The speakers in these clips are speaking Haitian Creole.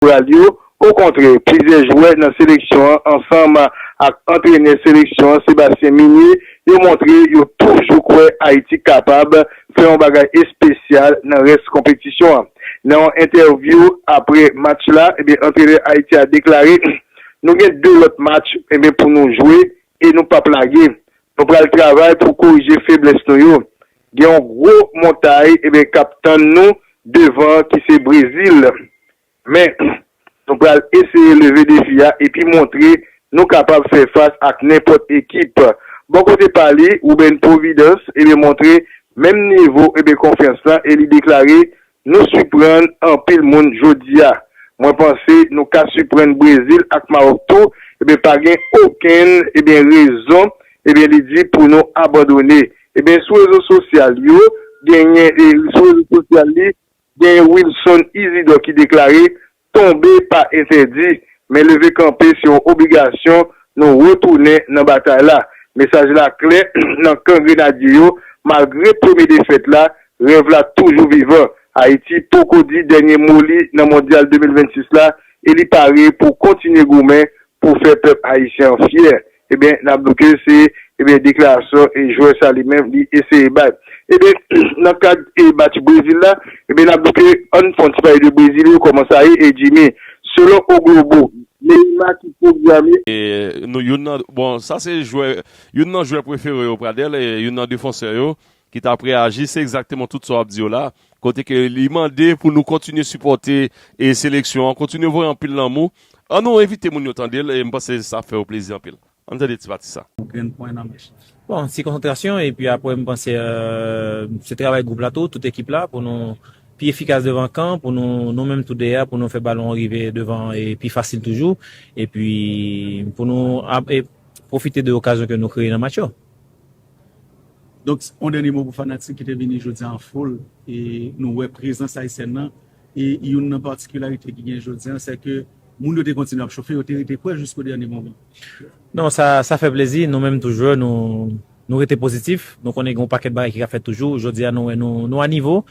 koral yo. Okontrè, plizyè jwè nan seleksyon an ansanm ak antrenè seleksyon an Sébastien Migné yo montre yo toujou kwè Ayiti kapab fè yon bagay espesyal nan rès konpetisyon an. Nan yon entèvyou aprè match la, antrenè Ayiti a deklare, Nou gen 2 lòt match pou nou jwe e nou pap lage. Nou pral travay pou korije feblès nou yo. Gen yon gwo montay k ap tann nou devan ki se Brezil. Men, nou pral eseye leve defi a epi montre nou kapab fè fas ak nenpòt ekip. Bò kote pa li, Ruben Providence montre menm nivo konfyans lan e li deklare Nou suprann anpil moun jodia. Mwen panse nou ka suprann Brezil ak Maròk tou ebyen pa gen okenn ebyen rezon ebyen li di pou nou abandone ebyen sou rezo sosyal yo genyen e sou rezo sosyal li genyen Wilson Isidor ki deklare Tonbe pa entèdi, men leve kanpe se yon obligasyon, nou retounen nan batay la. Mesaj la klè nan kan grenadye yo, malgre premye defèt la, rèv la toujou vivan. Ayiti poko di dènye mo li nan Mondyal 2026 la e li pare pou kontinye goumen pou fè pèp ayisyen an fyè, Ebyen nap do ke se ebyen deklarasyon e jwè sa li menm li eseye bay. Ebyen nan kad e match Brezil la ebyen nap do ke ann fon ti pale de Brezil yo koman sa ye e Jimmy selon O Globo. Neymar ki pwograme. Nou youn nan bon sa se jwè youn nan jwè prefere yo Pradel e youn nan defansè yo ki tap reaji se egzakteman tout sa wap di yo la, kote ke li mande pou nou kontinye sipòte e seleksyon an, kontinye voye anpil lanmou, an nou envite moun yo tande l e m panse sa ap fè yo plezi anpil. An tande ti pati sa. Bon, ti konsantrasyon epi aprè m panse se travay gwoup la tou, tout ekip la pou nou pi efikas devan kan, pou nou nou menm tou deyè a pou nou fè balon an rive devan e pi fasil toujou epi pou nou pwofite de okazyon ke nou kreye nan match yo. Donk yon dènye mo pou fanatik ki te vini jodi an foul e nou wè prezans Ayisyèn nan e youn nan patikilarite ki gen jodi an se ke moun yo te kontinye ap chofe, yo te rete kwè jisko dènye moman. Non sa fè plezi, nou menm tou jwè nou rete pozitif, nou konnen gen yon pakèt bagay ki ka fèt toujou, jodi a nou wè nou a nivo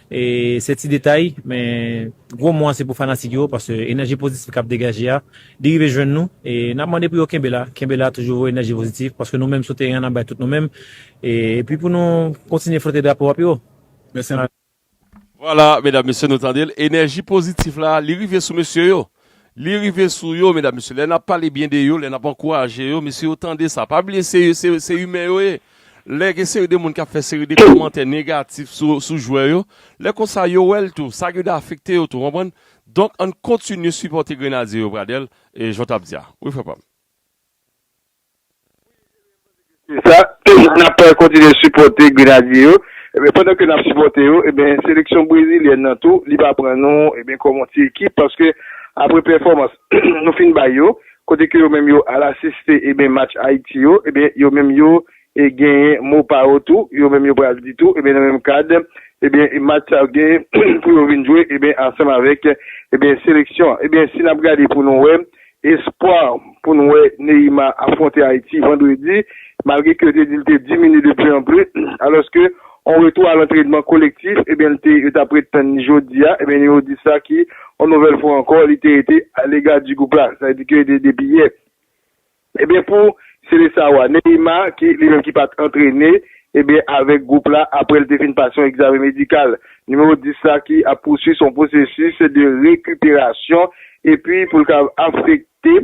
e se ti detay men gwo mo an se pou fanatik yo paske enèji pozitif k ap degaje a Li rive jwenn nou e nap mande pou yo kenbe la, kenbe la toujou voye enèji pozitif paske nou menm sou teren an nap bay tout nou menm epi pou nou kontinye flote drapo a pi wo. Mèsi anpil. Vwala medam mesye nou tandel enèji pozitif la li rive sou mesye yo li rive sou yo medam mesye lè nap pale byen de yo lè nap ankouraje yo mesye yo tande sa pa bliye se se imen yo ye lè gen seri de moun kap fè seri de kòmantè negatif sou jwè yo lè konsa yo wèl tou sa gen de afekte yo tou konprann Donk ann kontinye sipòte grenadye yo Pradel e jan w tap di a wi frè pam. Se sa, nap kontinye sipòte grenadye yo, ebyen pandan ke nap sipòte yo ebyen seleksyon brezilyèn nan tou li pa pran nou ebyen kòm yon ti ekip paske apre pèfòmans nou fin bay yo kote ke yo menm yo al asiste ebyen match Ayiti yo ebyen yo menm yo E genyen mo pa yo tou, yo menm yo pral di tou, ebyen nan menm kad, ebyen match sa yo gen pou yo vin jwe ebyen ansanm avèk ebyen seleksyon an. Ebyen si nap gade pou nou wè espwa pou nou wè Neyima afwonte Ayiti vandredi, malgre ke yo te di li te diminye de pli an pli, alòske yon retou a lantrenman kolektif ebyen li te yo tap ret tann li jodi a, ebyen yo di sa ki yon nouvèl fwa ankò li te rete a lega di gwoup la, sa vle di ke depi yè. Ebyen pou Seleção a, Neymar ki li menm ki pat antrene ebyen avèk gwoup la aprè l te fin pase yon egzamen medikal. Nimewo 10 la ki ap pousui son pwosesis de rekuperasyon epi pou l ka afekte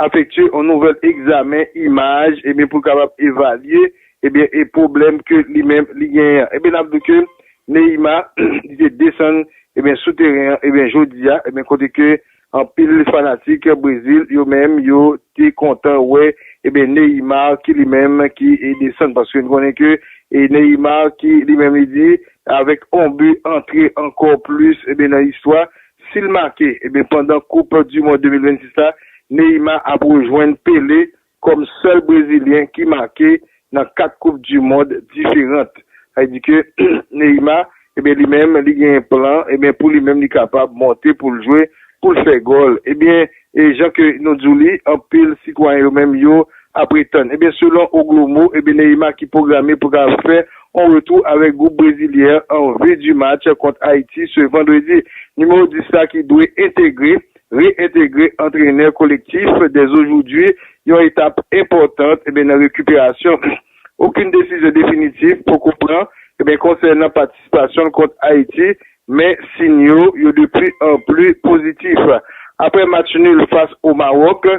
afektye yon nouvèl egzamen imaj ebyen pou kapab evalye ebyen e pwoblèm ke li menm li genyen an. Ebyen n ap di w ke Neymar li te desann ebyen sou teren an ebyen jodi a ebyen kote ke Anpil fanatik Brezil yo menm yo te kontan wè eben Neymar ki li menm ki desann paske n konnen ke Neymar ki li menm li di avèk on but antre ankò plis eben nan istwa si l make eben pandan koup du mond 2026 la Neymar ap rejwenn Pelé kòm sèl brezilyen ki make nan 4 koup du mond diferant sa vle di ke Neymar ebyen li menm li gen plan ebyen pou li menm li kapab monte pou l jwe pou l fè gòl ebyen e jan ke nou di w li anpil sitwayen yo menm yo ap etann ebyen selon O Glomo ebyen Neymar ki pwograme pou ta fè on retou avèk gwoup brezilyen an vue du match kont Ayiti se vandredi nimewo 10 la ki dwe entegre Re-entegre antrenè kolektif dèzojoudwi, yon etap enpòtan nan rekiperasyon. Okenn desizyon definitif poko pran konsènan patisipasyon l kont Ayiti, men siyn yo yo de pli an pli pozitif. Aprè match nul fas o Mawòk,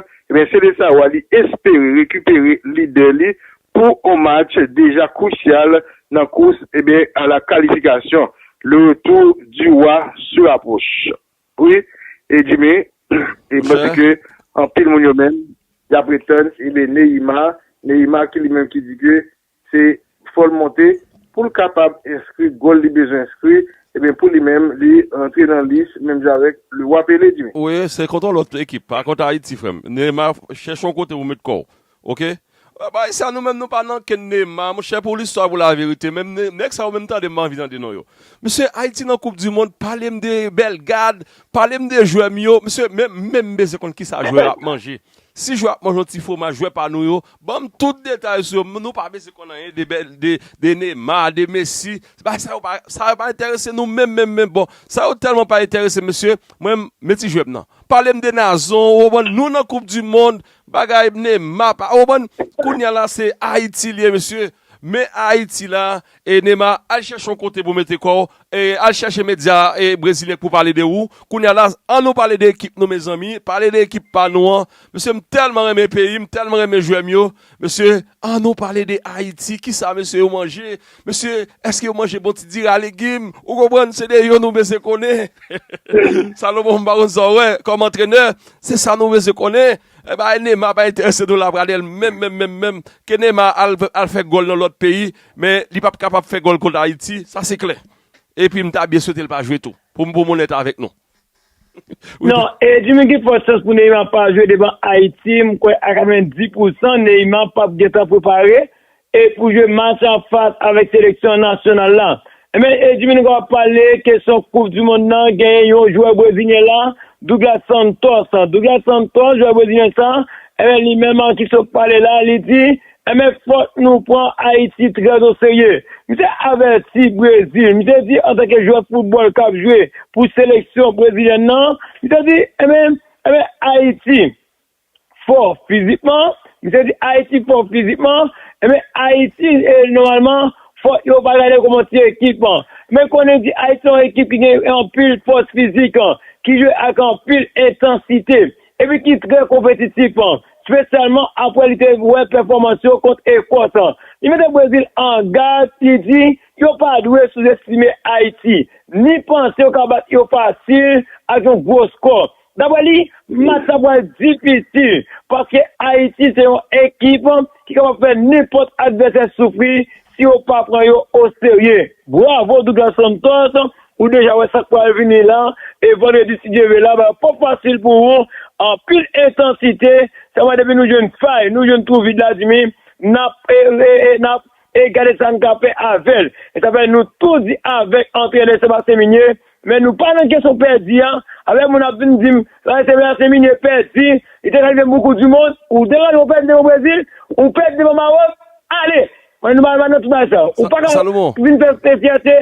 Selesawa li espere rekipere lidè li pou on match deja krusyal nan kous a la kalifikasyon. Le retour du roi se rapproche. Wi e Jimmy e mwen panse ke anpil moun yo menm yap ret tann ebe Neyima, Neyima ki li menm ki di ke se fòl monte poul kapab enskri gòl li bezwen enskri ebyen pou li menm li rantre nan lis menm jan avèk Leroy Pele Jimmy. Wi se kontre lòt ekip pa kontre Ayiti frèm. Neyima chèche yon kote pou met kòw. Ok bay sa nou menm nou pa nan ken Neymar monchè pou listwa pou la verite menm nèg sa yo menm tande m pa anvi tande non yo mesye ayiti nan koup di mond palem de Belgad palem de jwè m yo mesye men menm bezwen konn kisa jwè yo ap manje si jwè ap manje yon ti fwomaj jwè pa nou yo banm tout detay sou yo nou pa bezwen konn anyen de Neymar de Messi bay sa yo pa sa yo pa enterese nou menm menm menm bon sa yo tèlman pa enterese mesye mwen men ti jwè m nan palem de Nazon ou konprann nou nan koup di mond Bagay bne ma pa ou konprann kounya la se ayiti liye mesye men ayiti la e nema al chèche yon kote pou mete kòw e al chèche medya e brezilyen k pou pale de ou kounya la an nou pale de ekip nou mezanmi pale de ekip pa nou an mesye m tèlman renmen peyim tèlman renmen jwèm yo mesye an nou pale de ayiti kisa mesye yo manje Mesye eske yo manje bon ti diri a legim ou konprann se de yo nou bezwen konnen Salomon m pa konn sa w wè kòm antrenè se sa nou bezwen konnen e bay Neymar pa enterese nou la Pradel menm menm menm menm ke Neymar al fè gòl nan lòt peyi men li pap kapab fè gòl kont Ayiti sa se klè epi m ta byen swete l pa jwe tou pou m onèt avèk nou. Non e Jimmy gen fò chans pou Neymar pa jwe devan Ayiti m kwè a 90 pou san Neymar pap gentan prepare e pou jwe match an fas avèk seleksyon nasyonal la men e Jimmy nou kapab pale kesyon koup du mond nan genyen yon jwè brezilyen la Douglas Santos Douglas Santos jwè brezilyen sa e li menm ki sot pale la li di Enben fòk nou pran Ayiti trè o serye. Misye avèti Brezil, misye di antanke jwè foutbòl k ap jwe pou seleksyon brezilyèn nan, misye di enben, enben Ayiti fò fizikman, misye di Ayiti fò fizikman, enben Ayiti nòmalman fò yo pa gade kòman ti ekip an. Men konnen di Ayiti se yon ekip ki gen anpil fòs fizik, ki jwe ak anpil entansite. epi ki trè konpetitif, spesyalman apre li te wè pèfòmans yo kont Ekòs. Li mete Brezil an gad, li di, Yo pa dwe souzestime Ayiti, ni panse yo ka bat yo fasil ak yon gwo skò. Daprè li, match la pral difisil, paske Ayiti se yon ekip ki kapab fè nenpòt advèsè soufri si yo pa pran yo o serye. Bravo Douglas Santos ou deja wè sak pral vini la e vandredi si Dye ve la bagay pap fasil pou ou anpil entansite sa vwa depi nou jwenn fay nou jwenn twou vid la dimi nap nap e gade sa n ka fè avèl e sa fè nou tou di avèk antrenè Sebastien Migné Men nou pa nan kesyon pèdi a, apre moun ap vin dim Paris Saint-Germain e pèdi, li te kalifye pou koup du mond, ou te kalifye ou pèdi devan Brésil, ou pèdi devan Maroc, ale! Men nou pa nan tout bagay sa. Ou paka vin fè fyète.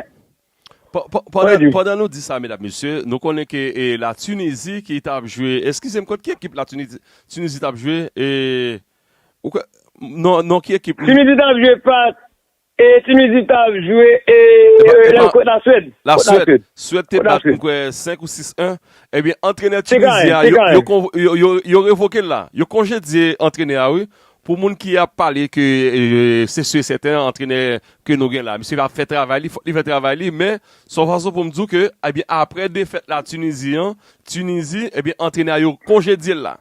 Pandan nou di sa medam mesye, nou konnen ke la Tunisie ki ta ap jwe, eskize m kont ki ekip la Tunisie ta ap jwe? Non ki ekip li? Tunisie ta ap jwe fas E Tinizi ta ap jwe e kot la Swèd? La Swèd, Swèd te bat m kwè 5 ou 6 1, ebyen antrenè Tinizi a yo revoke l la, yo konjedye antrenè a wi, pou moun ki ap pale ke se si e sèten antrenè ke nou gen la, misye ap fè travay li, fòk li fè travay li, men se yon fason pou m di w ke apre defèt la Tinizi an, Tinizi ebyen antrenè a yo konjedye l la.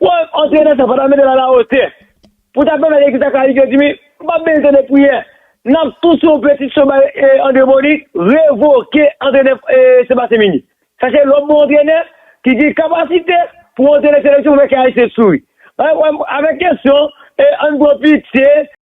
Pou antre nan sa, fò ta mete l alawotè. Pou ta pèmèt ekip la kalifye, Jimmy, nou pap bezwen tande priyè. N ap tout sou yon peti cho bay Andre Boni, revoke antrenè Sebastien Migny. Sa se lòt bon antrenè ki gen kapasite pou antrene seleksyon pou fè kay Ayisyen souri. Avèk kesyon, ann pran pitye.